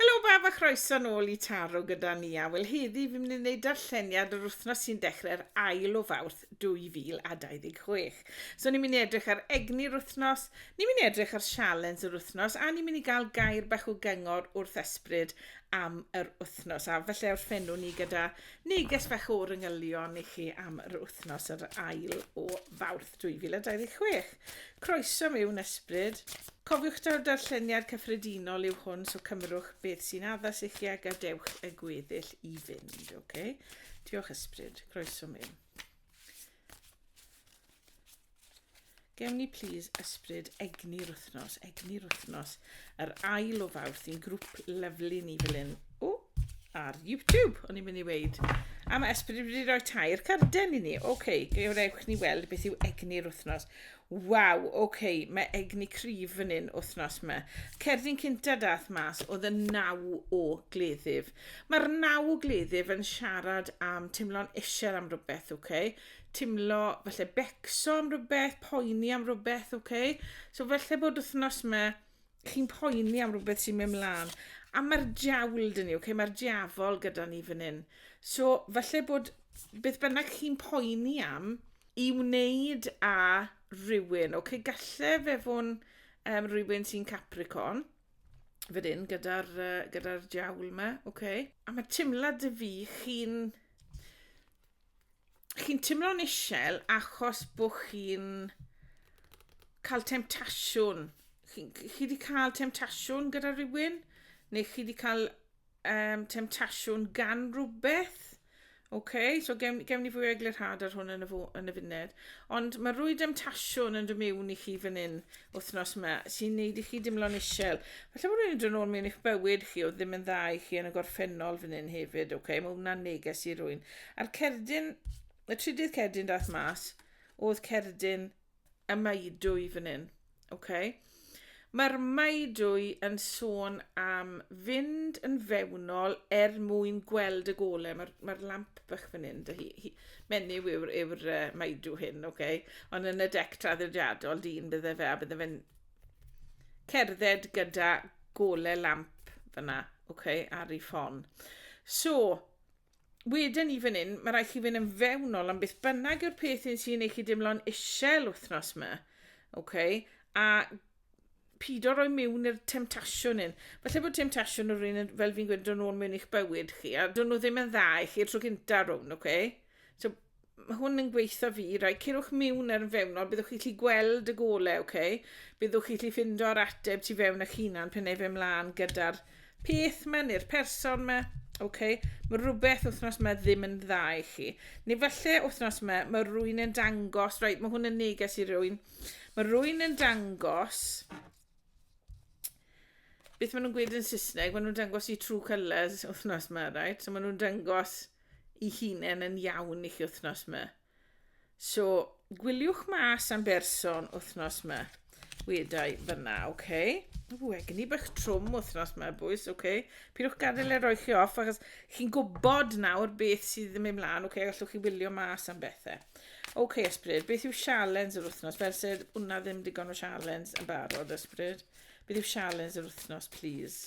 Helo bawb a chroeso nôl i Taro gyda ni a wel heddi fi'n mynd i wneud darlleniad yr wythnos sy'n dechrau'r ail o fawrth 2026. So ni'n mynd i edrych ar egni'r wythnos, ni'n mynd i edrych ar sialens yr wythnos a ni'n mynd i gael gair bach o gyngor wrth ysbryd am yr wythnos a felly orffenw ni gyda neges bach o'r yngylion i chi am yr wythnos yr ail o fawrth. 2026. Croeso mewn ysbryd. Cofiwch taw darlleniad cyffredinol yw hwn so cymrwch beth sy'n addas i chi a gadewch y gweddill i fynd, ok? Diolch ysbryd, croeso mewn. Gewn ni plis ysbryd egni'r wythnos, egni'r wythnos, yr ail o fawrth i'n grŵp lyflu ni fel hyn. O, ar YouTube, o'n i'n mynd i weid. A mae Esbryd wedi rhoi tair carden i ni. Oce, okay, gewrewch ni weld beth yw egni'r wythnos. Waw, oce, okay, mae egni cryf fan hyn wythnos yma. Cerdyn cynta dath mas oedd y naw o gleddyf. Mae'r naw o gleddyf yn siarad am teimlo'n eisiau am rhywbeth, oce? Okay? Teimlo, felly becso am rhywbeth, poeni am rhywbeth, oce? Okay? So felly bod wythnos yma, chi'n poeni am rhywbeth sy'n mynd mlaen. A mae'r diawl dyn ni, okay? mae'r diafol gyda ni fan hyn. So, falle bod beth bynnag chi'n poeni am i wneud a rhywun. Okay? Galle fe fod um, rhywun sy'n Capricorn, fan hyn, gyda'r uh, gyda diawl yma. Okay? A mae teimlad y fi chi'n chi'n timlo'n isel achos bo chi'n cael temtasiwn. Chi, chi wedi cael temtasiwn gyda rhywun? Neu chi wedi cael um, temtasiwn gan rhywbeth? OK, so gewn, gewn ni fwy o eglurhad ar hwn yn y, fo, yn y funud. Ond mae rwy demtasiwn yn dymiwn i chi fan hyn wythnos yma sy'n neud i chi dimlo'n isel. Felly bod rwy'n edrych yn ôl mewn eich bywyd chi o ddim yn dda i chi yn y gorffennol fan hyn hefyd. OK, mae hwnna'n neges i rwy'n. A'r cerdyn, y trydydd cerdyn dath mas, oedd cerdyn y maedwy fan hyn. Okay? Mae'r maedwy yn sôn am fynd yn fewnol er mwyn gweld y gole. Mae'r mae lamp bych fan hyn, dy hi, hi, menyw yw'r yw uh, maedw hyn, okay? ond yn y dec traddodiadol dyn bydde fe, a bydde fe'n cerdded gyda gole lamp fyna, okay, ar ei ffon. So, wedyn i fan hyn, mae rhaid chi fynd yn fewnol am beth bynnag yw'r peth un sy'n ei chi dimlo'n isel wythnos yma. Okay? A pido roi mewn i'r temtasiwn un. Felly bod temtasiwn yr un, fel fi'n gweud, dod nôl mewn i'ch bywyd chi, a dod nhw ddim yn dda i chi tro gynta rhwng, okay? So, Mae hwn yn gweitha fi. Rai, cerwch miwn ar yn fewnol, byddwch chi'n lli gweld y gole, oce? Okay? Byddwch chi'n lli fynd o'r ateb tu fewn eich hunan pen efe mlaen gyda'r peth yma neu'r person yma. Oce, okay? mae rhywbeth wythnos yma ddim yn dda i chi. Neu falle wythnos yma, mae rwy'n yn dangos, right, mae hwn yn neges i rwy'n, mae rwy'n yn dangos, beth maen nhw'n gweud yn Saesneg, maen nhw'n dangos i true colours wythnos yma, right? So maen nhw'n dangos i hunen yn iawn i chi wythnos ma. So, gwyliwch mas am berson wythnos ma. Wedau fyna, oce. Okay. Ww, egin i bych trwm wythnos ma, bwys, oce. Okay. Pidwch gadael e roi chi off, achos chi'n gwybod nawr beth sydd yn mynd mlaen, oce, okay, allwch chi wylio mas am bethau. Oce, okay, ysbryd, beth yw sialens yr wythnos? Fel sydd, hwnna ddim digon o sialens yn barod, ysbryd. Beth yw sialens yr wythnos, please?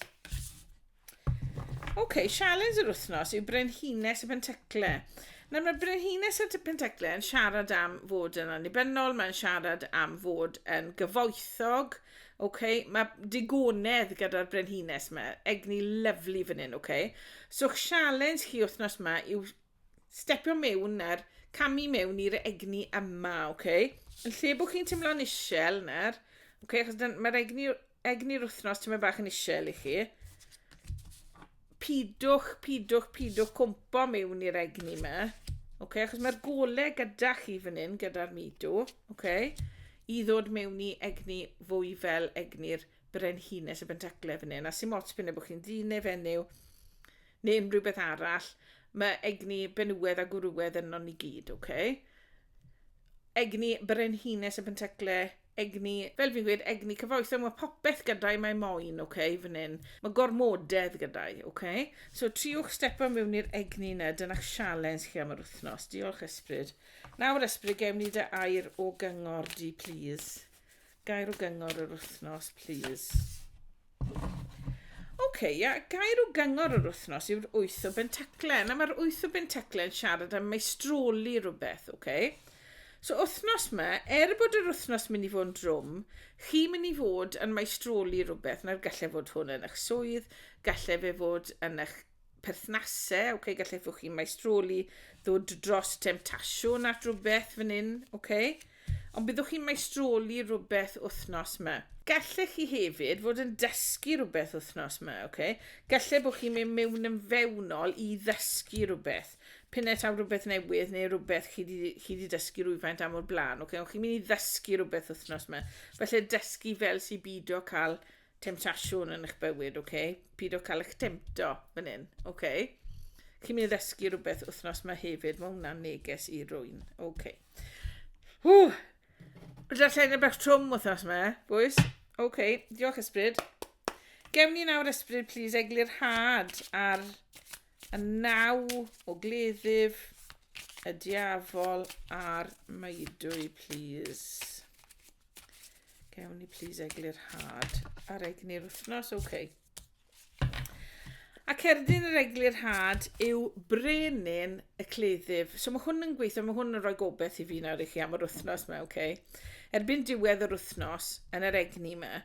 Oce, okay, sialens yr wythnos yw Brenhines y Pentecle. Nawr mae Brenhines y Pentecle yn siarad am fod yn annibynnol, mae'n siarad am fod yn gyfoethog, okay? mae digonedd gyda'r Brenhines yma, egni lyflu fan hyn, okay? So sialens chi wythnos yma yw stepio mewn nawr, camu mewn i'r egni yma, oce? Okay? Yn lle bod chi'n teimlo'n isel nawr, oce, okay, achos mae'r egni, egni'r wythnos ti'n bach yn isel i chi. Pidwch, pidwch, pidwch cwmpo mewn i'r egni yma. Oce, okay, achos mae'r gole gyda chi fan hyn, gyda'r midw, oce? Okay? I ddod mewn i egni fwy fel egni'r brenhines y bentaclau fan hyn. A sy'n mots pyn bod chi'n ddyn neu fenyw, neu unrhyw beth arall, mae egni benywedd a gwrywedd yno ni gyd, oce? Okay? Egni brenhines y pentecle, egni, fel fi'n gweud, egni cyfoethog, mae popeth gyda'i mae moyn, oce, okay, fan hyn. Mae gormodedd gyda'i, oce? Okay? So, triwch stepo mewn i'r egni yna, dyna'ch sialens chi am yr wythnos. Diolch, Ysbryd. Nawr, Ysbryd, gewn ni dy air o gyngor di, please. Gair o gyngor yr wythnos, please. OK, ia, gair o gyngor yr wythnos yw'r wyth o bentacle. Na, mae'r wyth o bentacle yn siarad am meistroli rhywbeth, OK? So, wythnos yma, er bod yr wythnos mynd i fod yn drwm, chi mynd i fod yn meistroli rhywbeth, na'r gallai fod hwn yn eich swydd, gallai fe fod yn eich perthnase, ok, gallefwch chi maestroli ddod dros temtasiwn at rhywbeth fan hyn, ok? Ond byddwch chi'n maestroli rhywbeth wythnos yma. Gallech chi hefyd fod yn dysgu rhywbeth wythnos yma, ok? Gallai bod chi'n mynd mewn yn fewnol i ddysgu rhywbeth. Pine taw rhywbeth newydd neu rhywbeth chi wedi dysgu rhywfaint am o'r blaen, ok? Ond chi'n mynd i ddysgu rhywbeth wythnos yma. Felly dysgu fel sy'n byd o cael temtasiwn yn eich bywyd, oce? Okay? Pyd o cael eich temto fan hyn, oce? Okay? Chi'n mynd i ddysgu rhywbeth wythnos mae hefyd, mae hwnna'n neges i rwy'n, oce. Okay. Hw! Rydyn lle'n y bach trwm wythnos yma, bwys. Oce, okay. diolch ysbryd. Gewn ni nawr ysbryd, please, eglur had ar y naw o gleddyf y diafol a'r maedwy, please. Gewn ni plis eglu'r had ar egni'r wythnos, oce. Okay. A cerdyn yr eglu'r had yw brenin y cleddyf. So mae hwn yn gweithio, mae hwn yn rhoi gobeith i fi nawr i chi am yr wythnos mae, oce. Okay. Erbyn diwedd yr wythnos, yn yr egni yma,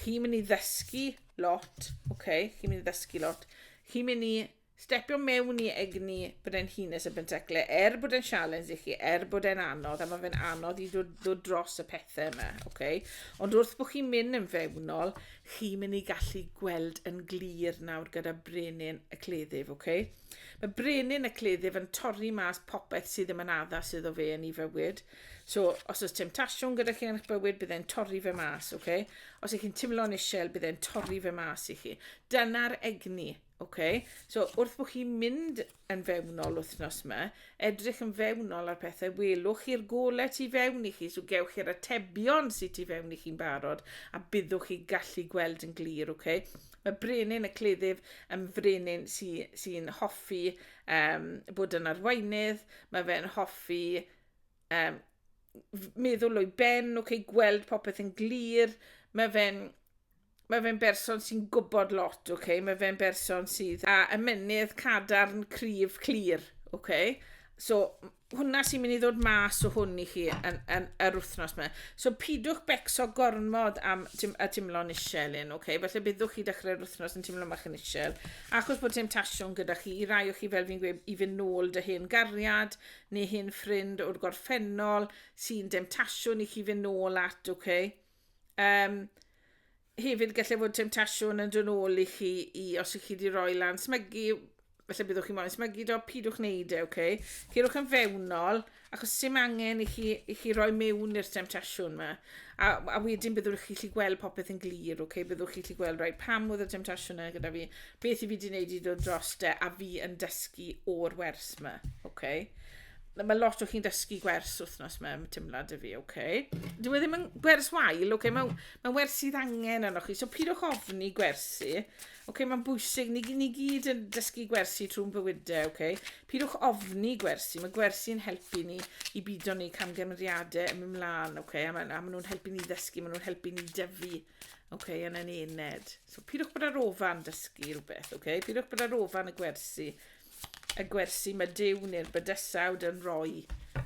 chi'n mynd i ddysgu lot, oce, okay. chi'n mynd i ddysgu lot. Chi'n mynd i Stepio mewn i egni brenhines y Bentecle, er bod e'n sialens i chi, er bod e'n anodd, a mae fe'n anodd i ddod, ddod dros y pethau yma, okay? ond wrth bod chi'n mynd yn fewnol, chi'n mynd i gallu gweld yn glir nawr gyda brenin y cleddyf. Okay? Mae brenin y cleddyf yn torri mas popeth sydd ddim yn addas iddo fe yn ei fywyd. So, os oes temtasiwn gyda chi yn eich bywyd, bydd e'n torri fe mas. Okay? Os ych chi'n teimlo'n isel, bydd e'n torri fe mas i chi. Dyna'r egni Ok, so wrth bod chi'n mynd yn fewnol wythnos yma, edrych yn fewnol ar pethau, welwch chi'r golau tu fewn i chi, so gewch chi'r atebion sydd tu fewn i chi'n barod, a byddwch chi'n gallu gweld yn glir, ok? Mae brenin y cleddyf yn frenin sy'n sy, sy hoffi um, bod yn arweinydd, mae fe'n hoffi um, meddwl o'i ben, ok, gweld popeth yn glir, mae fe'n Mae fe'n berson sy'n gwybod lot, oce? Okay? Mae fe'n berson sydd â ymenydd cadarn, cryf, clir, oce? Okay? So, hwnna sy'n mynd i ddod mas o hwn i chi yn, yn, yr wythnos yma. So, pidwch becso gormod am tim, y timlo'n isel un, oce? Okay? Felly, byddwch chi dechrau'r wythnos yn timlo mach yn isel. Achos bod temptasiwn gyda chi, i rai o chi fel fi'n gweud, i fynd nôl dy hen gariad neu hen ffrind o'r gorffennol sy'n demtasiwn i chi fynd nôl at, oce? Okay? Um, hefyd gallai fod temtasiwn yn dyn ôl i chi i os ych chi wedi rhoi lan smygu, felly byddwch chi moyn smygu do, pidwch wneud e, oce? Okay? Cyrwch yn fewnol, achos sy'n angen i chi, i chi roi mewn i'r temtasiwn yma. A, a wedyn byddwch chi chi gweld popeth yn glir, oce? Okay? Byddwch chi chi gweld rhaid pam oedd y temtasiwn yna gyda fi, beth i fi wedi wneud i ddod dros de, a fi yn dysgu o'r wers yma, oce? Okay? Mae lot o chi'n dysgu gwers wythnos mewn tymlad y fi, oce. Okay. Dwi e ddim yn gwers wael, oce, okay. mae'n ma wers sydd angen arnoch chi. So pyd o'ch ofni gwersi, oce, okay, mae'n bwysig, ni, ni gyd yn dysgu gwersi trwy'n bywydau, oce. Okay. Pyd o'ch ofni gwersi, mae gwersi'n helpu ni i byd o'n ni camgymeriadau yn mynd mlaen, oce, okay. a maen ma nhw'n helpu ni ddysgu, maen nhw'n helpu ni dyfu, oce, okay, yn yn ened. So pyd o'ch bod ar ofan dysgu rhywbeth, oce, okay. pyd o'ch bod ar ofan y gwersi, y gwersi mae Dyw neu'r bydysawd yn rhoi.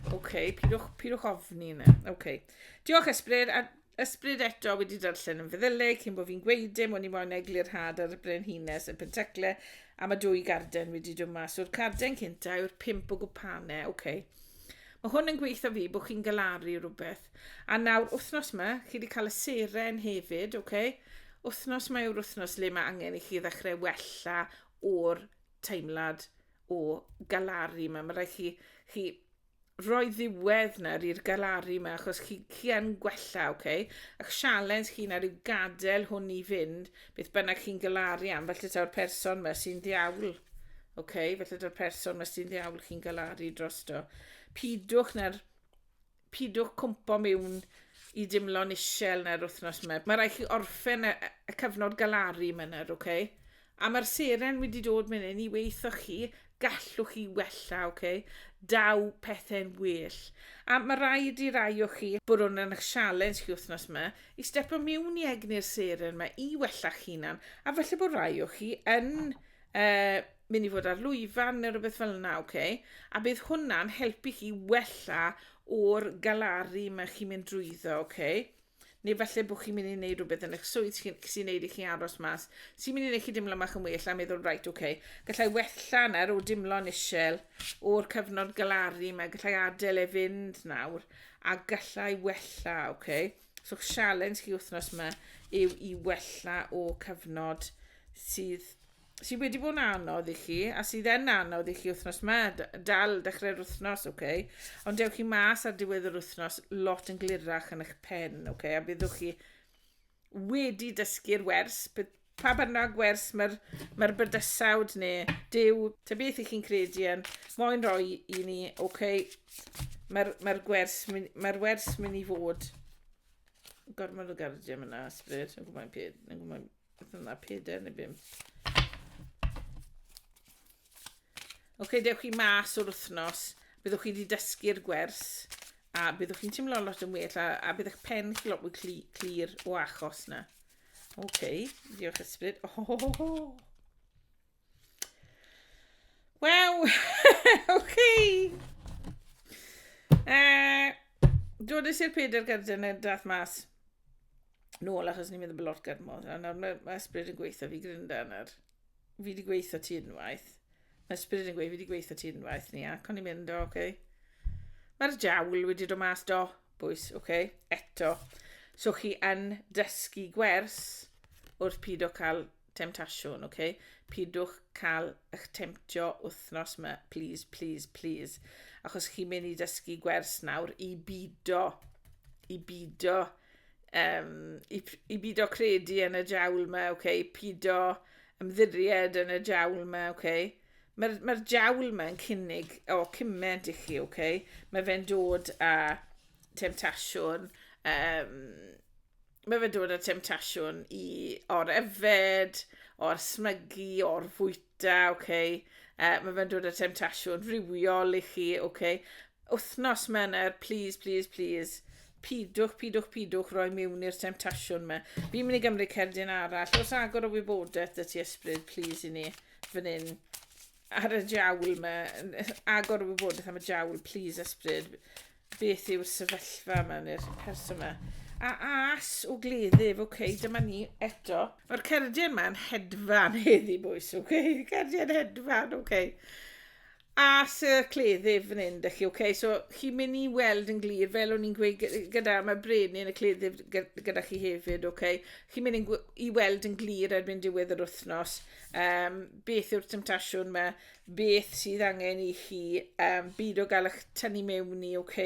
Oce, okay, pidwch, pidwch ofni yna. Oce. Okay. Diolch ysbryd, a ysbryd eto wedi darllen yn feddylu cyn bod fi'n gweud dim o'n i moyn eglurhad ar y brenhines yn pentecle a mae dwy garden wedi dod mas o'r carden cynta yw'r pimp o gwpane. Oce. Okay. Mae hwn yn gweithio fi bod chi'n galaru rhywbeth. A nawr, wythnos yma, chi wedi cael y seren hefyd, oce? Okay? Wythnos mae yw'r wythnos le mae angen i chi ddechrau wella o'r teimlad o galaru yma. Mae rhaid chi, chi roi ddiwedd nawr i'r galaru yma, achos chi, chi yn gwella, oce? Okay? A'ch sialens chi nawr yw gadael hwn i fynd, beth bynnag chi'n galaru am, felly taw'r person yma sy'n ddiawl. Oce, okay? felly taw'r person yma sy'n ddiawl chi'n galaru drosto. Pidwch nawr Pidwch cwmpo miwn i dimlo'n isel na'r wythnos yma. Mae rhaid chi orffen y, y cyfnod galaru yma nawr, oce? Okay? A mae'r seren wedi dod mynd hyn i weithio chi, gallwch chi wella, oce? Okay? Daw pethau'n well. A mae rhaid i rai o chi bod hwn yn eich sialens chi wythnos yma i stepo miwn i egni'r seren yma i wella chi hunan. A falle bod rhai o chi yn uh, mynd i fod ar lwyfan neu rhywbeth fel yna, oce? Okay? A bydd hwnna'n helpu chi wella o'r galaru mae chi'n mynd drwyddo, oce? Okay? Neu falle bod chi'n mynd i wneud rhywbeth yn eich swydd sy'n sy wneud i chi aros mas, sy'n mynd i wneud chi dimlo mach yn well a meddwl, reit, oce, okay, gallai wella nawr o dimlo'n isel o'r cyfnod galaru yma, gallai adael e fynd nawr, a gallai wella, oce? Okay? So, sialens chi wythnos yma yw i wella o cyfnod sydd sydd wedi bod yn anodd i chi, a sydd yn anodd i chi wythnos yma, dal dechrau'r wythnos, oce, okay? ond dewch chi mas ar diwedd yr wythnos lot yn glirach yn eich pen, oce, okay? a byddwch chi wedi dysgu'r wers, pa bynnag wers mae'r mae bydysawd neu dew, ta beth i chi'n credu yn, moyn roi i ni, oce, okay? mae'r mae gwers, mae wers mynd i fod gormod o gardiau yna, ysbryd, yn gwybod peth, yn gwybod Beth yna, peder neu bimp. Oce, okay, dewch chi mas o'r wythnos, byddwch chi wedi dysgu'r gwers, a byddwch chi'n teimlo lot yn well, a, a bydd eich pen chi lot mwy clir cli, o achos na. Oce, okay, diolch ysbryd. Oh, oh, oh, oh. Wel, ok. Uh, Dodys i'r Peter Gyrden yn dath mas nôl achos ni'n meddwl bod lot gyrmod. A nawr mae, mae ysbryd yn gweithio fi grinda nawr. Fi wedi gweithio ti unwaith. Mae ysbryd yn gweithio fi wedi gweithio ti unwaith ni ac o'n i'n mynd o, oce. Okay. Mae'r jawl wedi dod mas do, bwys, oce, okay. eto. So chi yn dysgu gwers wrth pyd o cael temtasiwn, ok? Pidwch cael eich temtio wythnos yma, please, please, please. Achos chi'n mynd i dysgu gwers nawr i bido, i bido, um, i, i bido credu yn y jawl yma, ok? Pido ymddiried yn y jawl yma, ok? Mae'r mae jawl yma yn cynnig o cyment i chi, ok? Mae fe'n dod a temtasiwn, um, mae fe'n dod â temtasiwn i o'r efed, o'r smygu, o'r fwyta, oce. Okay. Uh, mae fe'n dod â temtasiwn rhywiol i chi, oce. Okay. Wythnos mener, please, please, please. Pidwch, pidwch, pidwch roi mewn i'r temtasiwn me. Fi'n mynd i gymryd cerdyn arall. Os agor o wybodaeth dy ti ysbryd, please i ni, fan hyn. Ar y jawl me, agor o wybodaeth am y jawl, please ysbryd. Beth yw'r sefyllfa yma neu'r person yma? A as o gleddyf, oce, okay, dyma ni eto. Mae'r cerdyn yma'n hedfan heddi, bwys, oce? Okay? Cerdyn hedfan, oce. Okay. As y cleddyf yn hyn, dych chi, oce? Okay? So, chi'n mynd i weld yn glir, fel o'n i'n gweud gyda, mae brenin y cleddyf gyda chi hefyd, oce? Okay? Chi'n mynd i weld yn glir erbyn diwedd yr wythnos um, beth yw'r temtasiwn yma, beth sydd angen i chi um, byd o gael eich tynnu mewn i, ok?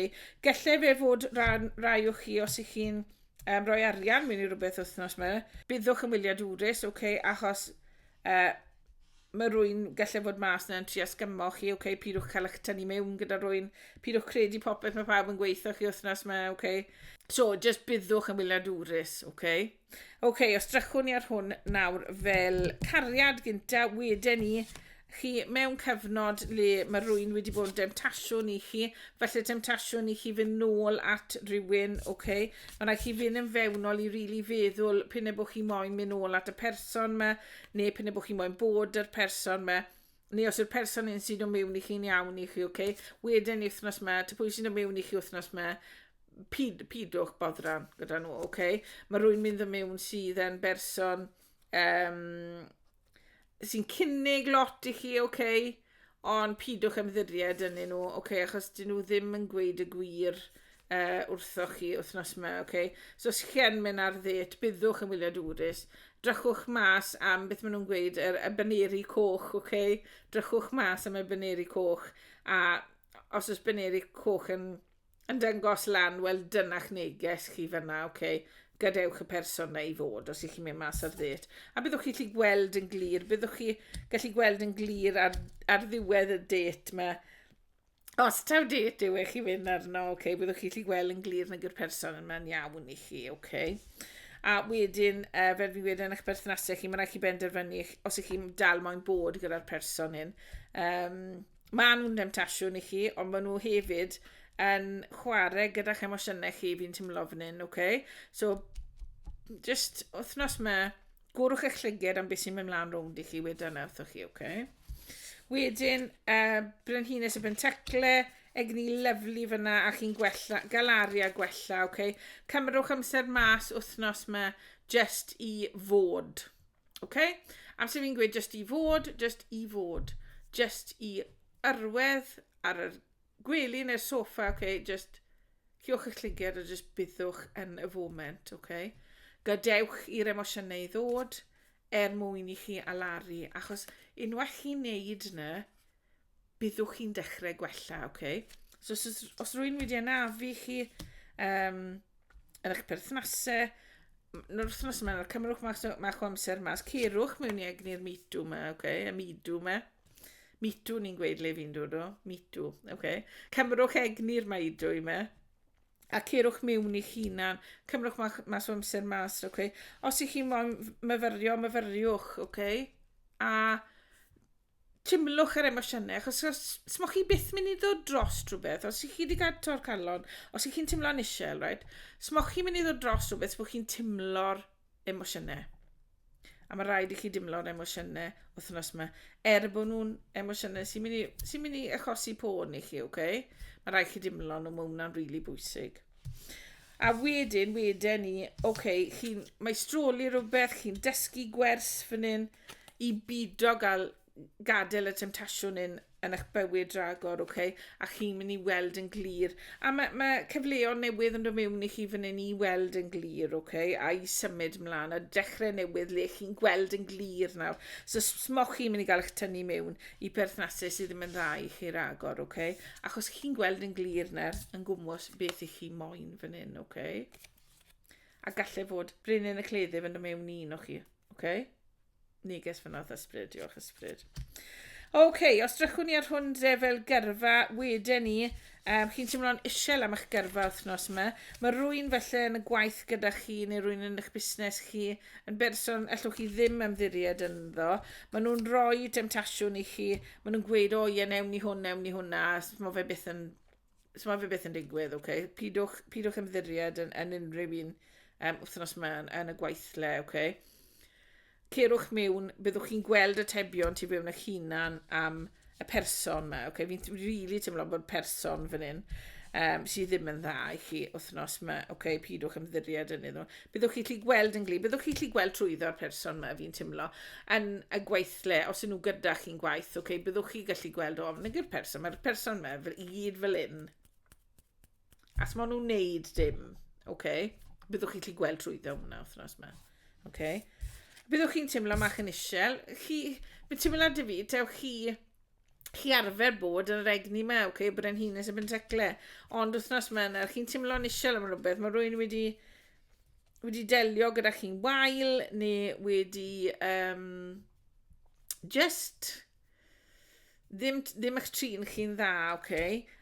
Gallai fe fod rhan, rai o chi os ych chi'n um, rhoi arian mewn i rhywbeth wythnos yma, byddwch yn wylio dwrus, ok? Achos uh, mae rwy'n gallu fod mas na'n tri asgymo chi, oce, okay, pidwch cael eich tynnu mewn gyda rwy'n, pidwch credu popeth mae pawb yn gweithio chi wythnos mae, oce. Okay. So, just byddwch yn wylio dwrus, oce. Okay. Oce, okay, os drychwn ni ar hwn nawr fel cariad gynta, wedyn ni chi mewn cyfnod le mae rwy'n wedi bod yn demtasiwn i chi, felly demtasiwn i chi fynd nôl at rhywun, oce, okay. mae rhaid chi fynd yn fewnol i rili really feddwl pyn y bod chi moyn mynd nôl at y person yma, neu pyn y bod chi moyn bod yr person yma, neu os yw'r person hyn sy'n dod mewn i chi'n iawn i chi, oce, okay? wedyn wythnos ma, ta pwy sy'n dod mewn i chi wythnos ma, pid, pidwch bodran gyda nhw, oce? Okay? Mae rwy'n mynd yn mewn sydd yn berson um, sy'n cynnig lot i chi, oce? Okay? Ond pidwch ymddiried yn nhw, oce? Okay? Achos dyn nhw ddim yn gweud y gwir uh, wrthoch chi wythnos yma, oce? Okay? So os chi yn mynd ar ddêt, byddwch yn wylio dwrus. Drychwch mas am beth maen nhw'n gweud, yr y baneri coch, oce? Okay? Drychwch mas am y baneri coch, a os oes baneri coch yn, yn dangos lan, wel dyna'ch neges chi fyna, oce? Okay? gadewch y person na i fod os ych chi'n mynd mas ar ddêt. A byddwch chi'n gallu gweld yn glir, byddwch chi gallu gweld yn glir ar, ar ddiwedd y dêt mae Os taw date yw e, chi fynd arno, oce, okay, byddwch chi'n gallu gweld yn glir nag yw'r person yma'n iawn i chi, oce. Okay. A wedyn, uh, fel fi'n gweud, yn eich berthnasau chi, mae'n rhaid chi benderfynu os ych chi'n dal moyn bod gyda'r person hyn. Um, mae nhw'n demtasiwn i chi, ond maen nhw hefyd yn chwarae gyda'ch emosiynau chi, fi'n teimlo fan hyn, oce. Okay? So, just wythnos mae Gworwch eich llyged am beth sy'n mynd mlaen rownd i chi wedyn na wrthoch chi, oce? Okay? Wedyn, uh, Brenhines y Bentacle, egni lyflu fyna a chi'n gwella, galaru a gwella, oce? Okay? Cymrwch amser mas wythnos yma just i fod, oce? Okay? Amser fi'n gweud just i fod, just i fod, just i yrwedd ar yr Gwely neu'r soffa, ok, jyst cewch eich llygaid a jyst byddwch yn y foment, ok? Gadewch i'r emosiynau ddod er mwyn i chi alaru, achos unwaith chi'n neud yna, byddwch chi'n dechrau gwella, ok? So os, os, os rwy'n wedi anafu chi um, yn eich perthnasau, yn yr wythnos yma, cymrwch ma'ch ma amser mas, cerwch mewn i egni'r midw yma, ok? Y midw yma. Mitw, ni'n gweud le fi'n dod o. Mitw, oce. Okay. Cymrwch egni'r maidw i me. A ceirwch mewn i'ch hunan. Cymrwch mas o amser mas, oce. Okay. Os ych chi'n moyn myfyrio, myfyriwch, oce. Okay. A timlwch yr emosiynau, achos os mo chi byth mynd i ddod dros rhywbeth, os ych chi wedi cael tor calon, os ych chi'n timlo'n eisiau, right? os mo chi'n mynd i ddod dros rhywbeth, os mo chi'n timlo'r emosiynau. A mae rhaid i chi dimlo'r emosiynau wythnos yma. Er bod nhw'n emosiynau sy'n mynd, i, sy mynd i achosi pôn i chi, oce? Okay? Mae rhaid chi dimlo nhw, mae hwnna'n rili really bwysig. A wedyn, wedyn ni, oce, okay, chi'n maestroli rhywbeth, chi'n dysgu gwers fan hyn i bido gael gadael y temtasiwn yn, yn eich bywyd ragor, oce, okay? a chi'n mynd i weld yn glir. A mae, mae cyfleoedd newydd yn dod mewn i chi fan hyn i weld yn glir, oce, okay? a i symud mlaen, a dechrau newydd le chi'n gweld yn glir nawr. So smoch chi'n mynd i gael eich tynnu mewn i perthnasau sydd ddim yn dda i chi ragor, oce? Okay? Achos chi'n gweld yn glir nawr yn gwmwys beth i chi moyn fan hyn, oce? Okay? A gallai fod brenin y cleddyf yn dod mewn un o chi, oce? Okay? Neges fan oedd ysbryd, diolch ysbryd. Oce, okay, os drychwn ni ar hwn dre fel gyrfa, wedyn ni, um, chi'n teimlo'n isel am eich gyrfa wythnos yma. Mae rwy'n felly yn y gwaith gyda chi neu rwy'n yn eich busnes chi yn berson allwch chi ddim ymddiried ynddo. Maen nhw'n rhoi demtasiwn i chi, maen nhw'n gweud, o ie, newn ni hwn, newn ni hwnna, mae fe byth yn So mae fe beth yn digwydd, oce. Okay. Pidwch, pidwch ymddiried yn, yn unrhyw un um, wythnos yma yn, yn y gweithle, oce. Okay. Cerwch mewn, byddwch chi'n gweld y tebion tu fewn eich hunan am y person yma, oce. Okay. Fi'n rili really teimlo bod person fan hyn um, sydd ddim yn dda i chi wythnos yma, oce, okay, pidwch ymddiried yn iddyn nhw. byddwch chi'n gallu gweld yn glir, byddwch chi'n gallu gweld trwyddo'r person yma, fi'n teimlo, yn y gweithle, os ydyn nhw gyda chi'n gwaith, okay, byddwch chi'n gallu gweld, o, nid yw'r person, mae'r person yma fel, i gyd fel un. As maen nhw'n neud dim, okay, byddwch chi'n gallu gweld trwyddo hwnna wythnos yma. Okay. Byddwch chi'n teimlo mach yn isel, chi, fe teimlo dy fi, dewch chi, chi arfer bod yr egni yma, oce, okay, brenhines y benteclau, ond wythnos yma yna, chi'n teimlo'n isel am rhywbeth, mae rwy'n wedi, wedi delio gyda chi'n wael, neu wedi um, just ddim, ddim eich trin chi'n dda, oce, okay?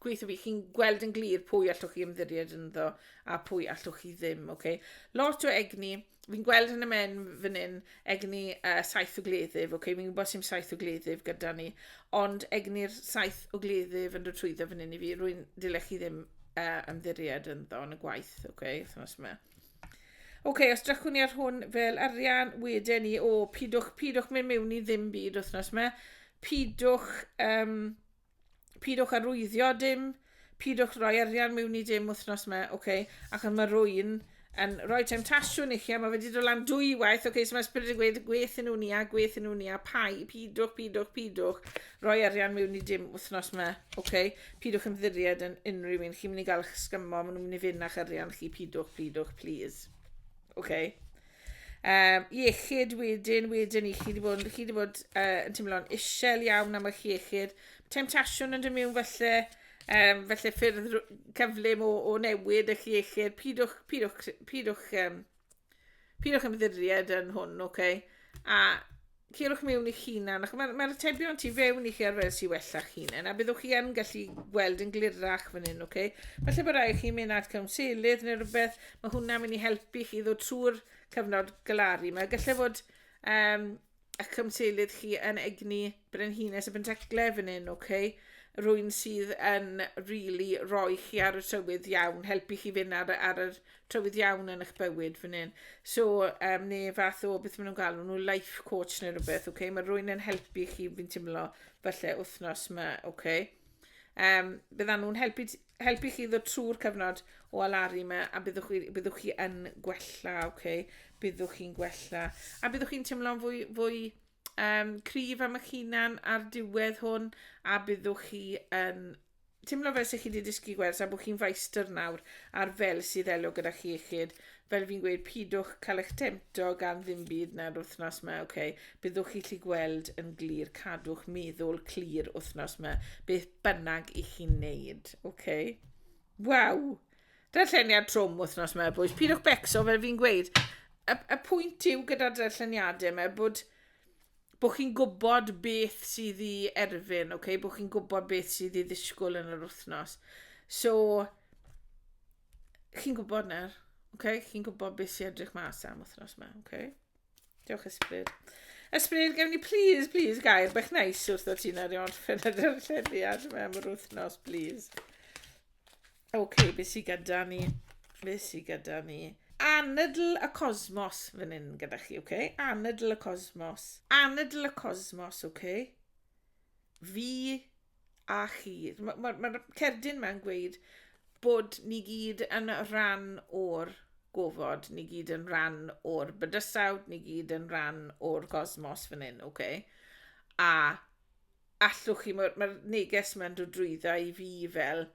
gweithio fi, chi'n gweld yn glir pwy allwch chi ymddiried ynddo a pwy allwch chi ddim, oce? Okay? Lot o egni, fi'n gweld yn y men fan hyn, egni uh, saith o gleddyf, oce? Okay? Fi'n gwybod sy'n saith o gleddyf gyda ni, ond egni'r saith o gleddyf yn dod trwyddo fan hyn i fi, rwy'n dilech chi ddim uh, ymddiried ynddo yn y gwaith, oce? Okay? Thnos yma. Oce, okay, os drychwn ni ar hwn fel arian, wedyn ni, o, pidwch, pidwch mynd mewn i ddim byd wythnos yma, pidwch... Um, pidwch arwyddio dim, pidwch roi arian mewn i dim wythnos yma, oce, okay? ac yma rwy'n yn rhoi temtasiwn i chi, a mae wedi dod lan dwy waith, oce, okay, so mae ysbryd yn gweud, gweth yn nhw'n ia, gweth yn nhw'n ia, pai, pidwch, pidwch, pidwch, roi arian mewn i dim wythnos yma, oce, okay? pidwch ymddiried yn unrhyw un, chi'n mynd i gael eich sgymo, maen nhw'n mynd i fynd â'ch arian chi, pidwch, pidwch, please, oce. Okay? Um, iechyd wedyn, wedyn i chi wedi bod, chi wedi bod uh, yn teimlo'n isel iawn am eich iechyd. Temtasiwn yn dod mewn felly, um, felly ffyrdd cyflym o, o newid eich iechyd. Pidwch, pidwch, pidwch, um, pidwch ymddiried yn hwn, oce? Okay? A Cerwch mewn i'ch hunan, ac mae'r mae atebion tu fewn i chi ar fel sy'n wella'ch hunan, a byddwch chi yn gallu gweld yn glirach fan hyn, oce? Okay? Felly bod rhaid chi mynd at cawnselydd neu rhywbeth, mae hwnna'n mynd i helpu chi ddod trwy'r cyfnod galaru. Mae gallai fod um, y cymseilydd chi yn egni brenhines y bentecle fan hyn, oce? Okay? Rwy'n sydd yn really roi chi ar y tywydd iawn, helpu chi fynd ar, ar y tywydd iawn yn eich bywyd fan hyn. So, um, ne fath o beth maen nhw'n galw nhw, life coach neu rhywbeth, oce? Okay? Mae rwy'n yn helpu chi, fi'n teimlo, falle wythnos yma, oce? Okay? Um, byddan nhw'n helpu, helpu chi ddod trwy'r cyfnod o alaru yma a byddwch chi, byddwch chi yn gwella, oce? Okay? Byddwch chi'n gwella. A byddwch chi'n teimlo'n fwy, fwy um, cryf am eich hunan ar diwedd hwn a byddwch chi yn Timlo fel se chi 'di dysgu gwers a bo' chi'n faestr nawr ar fel sydd elo gyda chi iechyd. Fel fi'n gweud, pidwch cael eich temto gan ddim byd na'r wythnos 'ma, ok? Byddwch chi 'llu gweld yn glir, cadwch meddwl clir wythnos 'ma, beth bynnag i chi'n neud, ok? Waw! Darlleniad trwm wythnos 'ma, boys. Pidwch becso, fel fi'n gweud. Y, y pwynt yw gyda'r darlleniadau yma bod bo' chi'n gwybod beth sydd i erfyn, ok? Bo' chi'n gwybod beth sydd i ddisgwyl yn yr wythnos. So, chi'n gwybod nawr, ok? Chi'n gwybod beth sy'n edrych mas am wythnos yma, ok? Diolch ysbryd. Ysbryd, gef ni please, please, gair bech nais wrth o ti'n ar i orffen yr llediad yma am yr wythnos, please. Ok, be sy gyda ni? Be sy gyda ni? Anadl y cosmos fan hyn gyda chi, ok? Anadl y cosmos. Anadl y cosmos, ok? Fi a chi. Mae'r ma, ma, ma cerdyn mae'n gweud bod ni gyd yn rhan o'r gofod, ni gyd yn rhan o'r bydysawd, ni gyd yn rhan o'r gosmos fan hyn, ok? A allwch chi, mae'r mae neges yma'n dod drwydda i fi fel,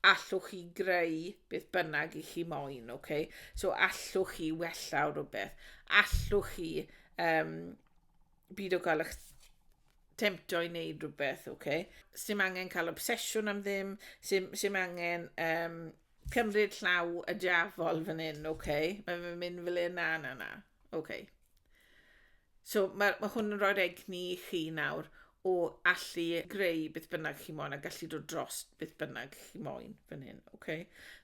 allwch chi greu beth bynnag i chi moyn, oce? Okay? So allwch chi wella o rhywbeth, allwch chi um, byd o gael eich temto i wneud rhywbeth, oce? Okay? Sym angen cael obsesiwn am ddim, sym, sym angen um, cymryd llaw y diafol fan hyn, oce? Okay? Mae'n mynd fel e, na, na, na. OK. So mae, mae hwn yn rhoi'r egni i chi nawr o allu greu beth bynnag chi moyn a gallu dod dros beth bynnag chi moyn fan hyn, oce? Okay?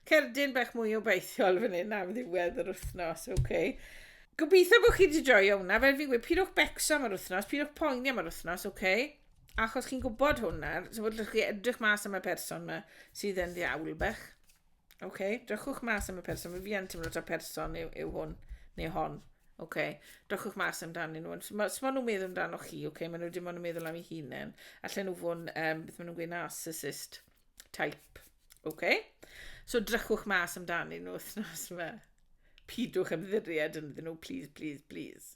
Cerdyn bach mwy o beithiol fan hyn am ddiwedd yr wythnos, oce? Okay? Gobeithio bod chi wedi joio hwnna, fel fi'n gweud, pidwch becso am yr wythnos, pidwch poeni am yr wythnos, oce? Okay? Achos chi'n gwybod hwnna, so bod chi edrych mas am y person yma sydd yn ddiawl bech. Oce, okay. drychwch mas am y person. Fi yn teimlo ta person yw, yw hwn neu hon. Oce, okay. drychwch mas amdanyn nhw. Mae ma nhw'n meddwl amdano chi, oce, okay. mae nhw dim ond yn meddwl am ei hunain. Allan nhw fod um, beth maen nhw'n gweud, narcissist type. Oce? Okay? So drychwch mas amdanyn nhw wythnos yma. Pidwch ymddiried ynddyn nhw, please, please, please.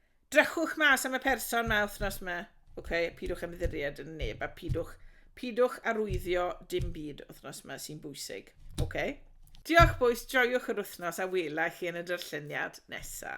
Drychwch mas am y person ma wthnos ma. Ok, pidwch ymddiried yn neb a pidwch, pidwch arwyddio dim byd wthnos ma sy'n bwysig. Ok? Diolch bois, joiwch yr wthnos a wela i chi yn y darlleniad nesa.